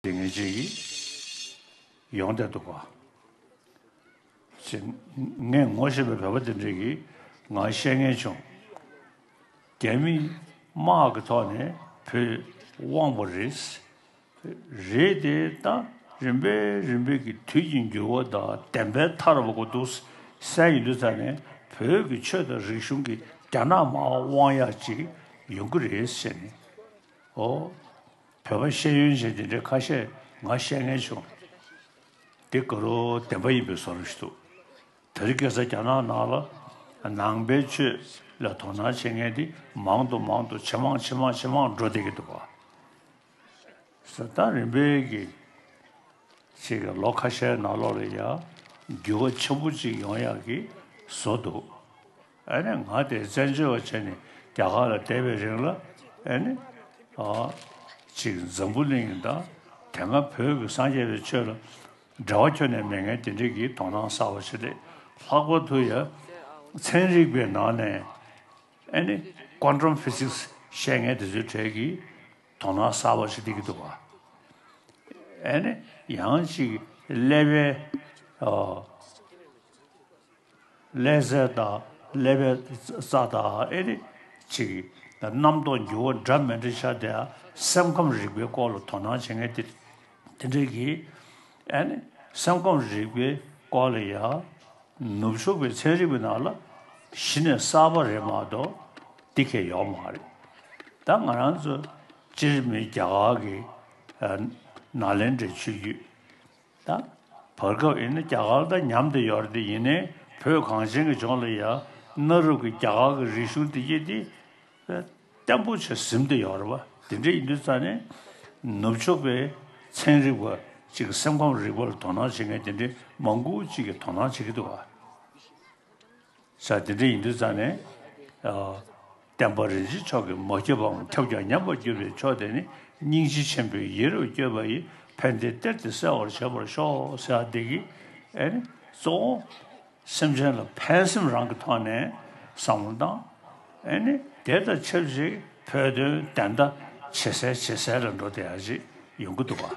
ཏིང་ངེ་འཛིན་ཡིས་ཡོངས་བཟླས་འདུག་པ། ཅེས། ངས་ངོ་ཤེས་པའི་བོད་པ་དེ་འདྲས་ཀྱི་ངང་བཤད་ངེས་བྱུང། རྒྱ་མིས་དམག་གི་ཐོག་ནས་བོད་དབང་བོ་རེད། རེད་དེ་ད་རིམ་པས་རིམ་པས་ཀྱི་དུས་ཀྱི་འགྱུར་བ་དང་བདེན་པའི་མཐའ་རུ་བབ་འདུག་སའི་ཡུལ་དུ་ད་ནས་བོད་ཀྱི་ཆོས་དང་རིག་གཞུང་གི་རྒྱ་ནག་དམག་དབང་ཡག་ཅིག་ཡོང་གི་རེད་ཟེར་ནས་ཨོ། བོད་པ་ཤེས་ཡོན་ཅན་དེ་འདྲས་ཁ་ཤས་ང་བཤད་ངན་བྱུང། འདི་དགའ་རོ་བདེན་པ་ཡིན་པའི་བཟོ་རུ་འདུག་དེ་རིགས་སྐད་ས་རྒྱ་ནག་ནང་ལ་ནང་པའི་ཆོས་ལ་དོ་སྣང་བྱེད་མཁན་དེ་མང་དུ་མང་དུ་ཇེ་མང་ཇེ་མང་ཇེ་མང་འགྲོ་བསྡད་ཀྱི་འདུག་བ། ས་ཐག་རིང་པའི་གི་ཚིག་གི་ལོ་ཁ་ཤས་ནང་ལོག་ལ་ཡ་འགྱུར་བ་ཆེན་པོ་ཅིག་ཡོང་ཡག་གི་བཟོ་འདུག། ཨ་ནི་ང་དེ་བཙན་བྱོལ་བ་བྱས་ནས་རྒྱ་གར་ལ་བསྡད་པའི་རིང་ལ་ཨ་ནི་ཅིག་འཛམ་བུ་གླིང་ཡིན་དང་དེ་སྔ་བོད་ཀྱི་སངས་རྒྱས་པའི་ཆོས་ལ་འབྲེལ་བ་ཁྱོན་ནས་མེད་ངས་དེ་འབྲེལ་གྱི་དོ་སྣང་གསར་བ་བྱེད་དེ་ལྷག་པར་དུ་ཡ་མཚན་རིག་པའི་ནང་ནས་ཨ་ནི Quantum Physics བཤད་ངས་དེ་ཚོའི་གྲས་ཀྱི་དོ་སྣང་གསར་བ་བྱེད་དེ་གི་འདུག་ཨ་ནི་ཡང་ཅིག་ཀླད་པའི། ཀླད་གཟེར་དང་ཀླད་པའི་རྩ་དང་ཨེ་རེད་ཅིག། རྣམ་རྟོག་འགྱུ་བ་འདྲ་མི་འདྲ་ཆ་དེ་སེམས་ཁམས་རིག་པའི་སྐོར་ལ་དོ་སྣང་བྱེད་མཁན་དེ་འདྲས་ཀྱི། ཨེ་ནི། སེམས་ཁམས་རིག་པའི་སྐོར་ལ་ཡ། ནུབ་ཕྱོགས་པའི་ཚན་རིག་པའི་ནང་ལ་གཞི་ནས་གསར་པ་རེད་མ་གཏོགས་འདི་གས་ཡོག་མ་རེད། ད་ང་རང་ཚོ་སྤྱིར་མི་རྒྱ་གར་གྱི་ནཱ་ལེནྡྲའི་ཆོས་བརྒྱུད། དང། བར་སྐབས་ཡིན་ན་རྒྱ་གར་དང་མཉམ་དུ་ཡོད་དེ་ཡིན་ནའི་བོད་གངས་ཅན་གྱི་ལྗོངས་ལ་ཡང་གནའ་རབས་ཀྱི་རྒྱ་གར་གྱི་རིག་གཞུང་དེ་སྐྱེས་ཏེ་བརྟན་པོ་ཆེར་གཟིམ་དུ་ཡོད་རེད་བ། དེ་འདྲའི་ཡིན་དུས་རྩ་ནས་ནུབ་ཕྱོགས་པའི་ཚན་རིག་པ་གཅིག་གི་སེམས་ཁམས་རིག་པ་ལ་དོ་སྣང་བྱེད་མཁན་དེ་འདྲའི་མང་པོ་གཅིག་གིས་དོ་སྣང་བྱེད་ཀྱི་འདུག་བ། ས་དེ་འདྲ་ཡིན་དུས་རྩ་ནས། བསྟན་པ་རིན་ཆེན་མཆོག་གིས་མ་བསྐྱོད་པའམ་ཁྱབ་ཀྱང་ཉམས་པར་བསྐྱོད་པའི་མཆོག་དེ་ནི་སྙིང་རྗེ་ཆེན་པོའི་ཡེ་རུ་བསྐྱོད་པ་ཡི་ཕན་བདེའི་གཏེར་དེ་གསལ་བར་བྱེད་པར་ཤོག་ས་དེ་གི་ཨེ་ནི་གཙོ་བོ། སེམས་ཅན་ལ་ཕན་སེམས་རང་གི་ཐོག་ནས་བསམ་བློ་བཏང། ཨེ་ནི་དེ་དང་ཆབས་ཅིག་བོད་དོན་བདེན་མཐའ་ཇེ་གསལ་ཇེ་གསལ་ལ་འགྲོ་བདེ་ཡག་ཅིག་ཡོང་གི་འདུག་བ།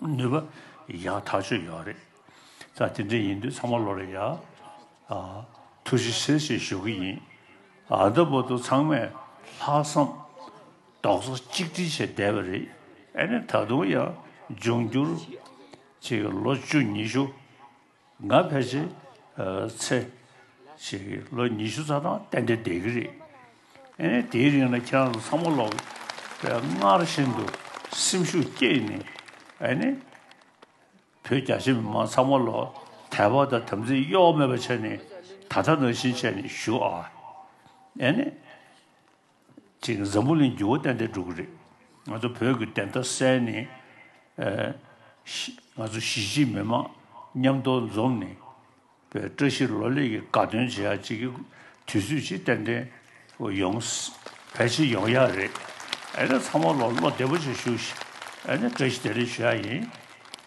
ནུས་པ་ཡག་ཐག་ཆོད་ཡོད་རེད་ད་དེ་འདྲ་ཡིན་དུས་ཚང་མ་ལོ་རེ་ཡག་ཐུགས་རྗེ་ཆེ་ཞེས་ཞུ་གི་ཡིན་ད་བོ་ཏོ་ཚང་མས་ལྷག་བསམ་རྡོག་རྩ་གཅིག་སྒྲིལ་བྱས་བསྡད་པ་རེད་ཨ་ནི་ད་དུང་ཡང་འབྱུང་འགྱུར་གྱི་ལོ་བཅུ་ཉི་ཤུ། ང་ཕལ་ཆེར་ཚེ་ཞིག་ལོ་ཉི་ཤུ་རྩ་ཐང་གཏན་བདེ་བསྡད་གི་རེད། ཨེ་ནས་དེའི་རིང་ལ་ཁྱེད་རང་ཚོ་ཚང་མ་ལོག་པས་སྔར་བཞིན་དུ་སེམས་ཤུགས་བསྐྱེད་ནས་ཨེ་ནས་བོད་རྒྱ་ཆེ་མི་མང་ཚང་མ་ལོག་དད་པ་དང་དམ་ཚིག་གཡོ་བ་མེད་པ་བྱས་ནས་ད་ལྟ་ནང་བཞིན་བྱས་ནས་བཞུགས་ཨ། ཨེ་ནས། ཅིག་འཛམ་བུ་གླིང་འགྱུར་བ་ཏན་ཏན་འགྲོ་གི་རེད། ང་ཚོ་བོད་ཀྱི་བདེན་མཐའ་གསལ་ནས། ང་ཚོ་གཞིས་བྱེས་མི་མང་མཉམ་དོ་འཛོམས་ནས། བཀྲ་ཤིས་ལོ་ལེགས་ཀྱི་དགའ་སྟོན་བྱེད་ཡག་ཅིག་གི་དུས་ཚོད་ཅིག་ཏན་ཏན་ཡོང། ཕལ་ཆེར་ཡོང་ཡག་རེད། ཨ་ནི་ཚང་མ་ལོ་བདེ་པོ་ཆེ་ཞུ། ཨ་ནི་བཀྲ་ཤིས་བདེ་ལེགས་ཞུ་ཡག་ཡིན།